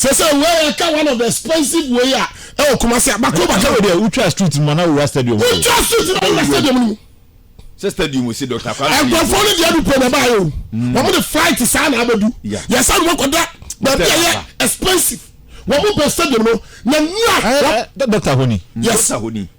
sɛ sɛ wei yɛ ka one of the expensive way a ɛwɔ kuma se abako ba sɛ wei deɛ wotwa street mu na wowura stadium mu wotwa street na wowura stadium mu sɛ stadium si dɔkta kwa nkurɔfoɔ no deɛ dupɔ na ɛbaa yɛ o mm. wɔn de flight saa na abɛdu yɛsa no wɔkɔda baabi a yɛ expensive wɔn bɛ stadium no na nura dɔkta honi yes dɔkta honi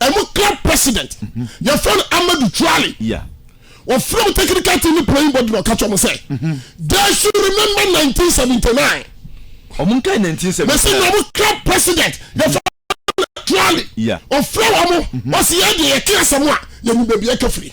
ɛmu club president yɛfrɛ no amadu tuale wɔfrɛ wo technical team playing body na ɔka kyɛ mo sɛ they should remember 1979 ɔmo nka 1979 mɛsɛ na ɔmo club president yɛfrɛ tuale ɔfrɛ wɔ mo ɔsɛ yɛ deɛ yɛte asɛm a yɛnim baabi ɛka firi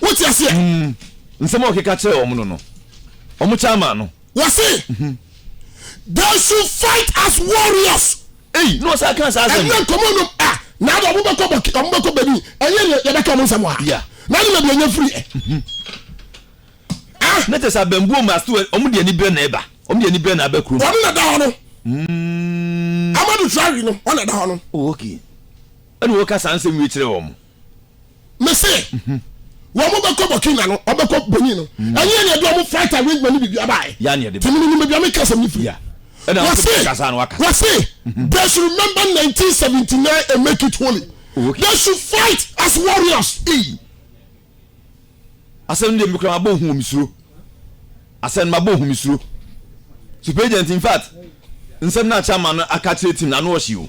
wote aseɛ mm, nsɛm a ɔkeka kyerɛ wɔn no no wɔn kyɛ ama no wɔse mhm. they should fight as warriors eyi na ɔsan kan saa asɛm ɛnyɛ nkɔmɔ nom a ah, na adi ɔmo bɛkɔ bɔki ɔmo bɛkɔ bɛni ɛnyɛ yɛ yɛbɛka ɔmo nsɛm wa na ne bɛbi ɛnyɛ firi yɛ mhm. ah. ne te sɛ abɛnbuo mu ase ɔmo de ani bere na ɛba ɔmo de ani bere na abɛ kurom ɔmo na da hɔ no mm. amadu traore no ɔna da hɔ no oh, ɛna wɔka saa nsɛm wie kyerɛ wɔn me se wɔn mo bɛkɔ burkina no ɔbɛkɔ benin no mm. ɛnyɛ ɛna ɛde wɔn flight arrangement ni bibi abaayɛ tèmi ni nimu bi ame kasa mi firi wɔse wɔse mm-hmm. they should remember nineteen seventy nine and make it holy oh, they should fight as warriors. asɛm de mi kura ma bɔ ohun omi suro asɛm ma bɔ ohun mi suro super agent in fact nsɛm na akyɛ ama no aka kyerɛ tim na ano ɔhye o.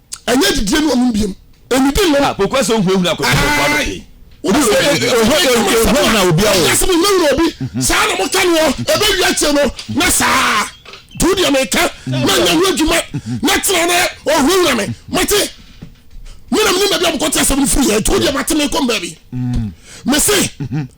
ɛnyɛ adidie ne ɔnom biom ɛnidi nnom ah, kɔkɔ sɛ wohunahuna akɔdɔkɔdɔkɔ ano pii ɛhɔ na obi awo ɛsɛ mo nyɛ wura obi mhm. saa na moka no hɔ ɛbɛwi akyɛ no na saa do deɛ meka na nya ho adwuma na tena na ɔhunahuna me mate menam ne baabi a mokɔte asɛm no firi yɛ do deɛ mate mekɔ mbaabi mese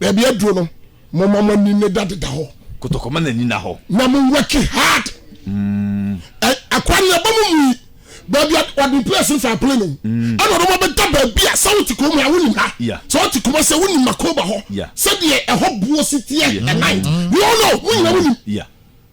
baabi aduro no moma mo ani ne da deda hɔ kotokɔ ma n'ani na hɔ na mo work hard mm. akwa ne ɛbɔ mo mu yi baabi ɔde place nfa apele no mm. ɛna ɔde mo bɛda baabi a sɛ wote kurom ha wonim ha sɛ wote kuma sɛ wonim makoba hɔ sɛdeɛ ɛhɔ buo si teɛ ɛnan mm. you all know mo nyina wonim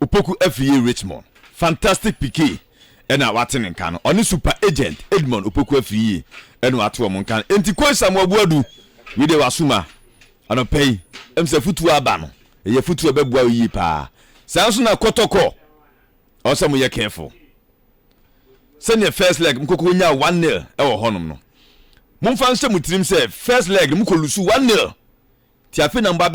Opoku Afie Richmond Fantastic Piquet na wate ne nka no. Ɔne Super Agent Edmond Opoku Afie na wɔate wɔn nka no. Enti Kois Samoa Boadu, wei deɛ w'asuma anɔpa yi, ɛm sɛ afutuo aba no, ɛyɛ afutuo a ɛbɛboa wo yie paa. Saa nso na Kɔtɔkɔ, ɛwɔ sɛ moyɛ careful. Sɛdeɛ first leg mokɔkɔ wɔnya 1-0 ɛwɔ hɔnom no, momfa nhyɛ mo tirim sɛ first leg no mokɔ lusu 1-0, nti afei na mobɔ abɛ.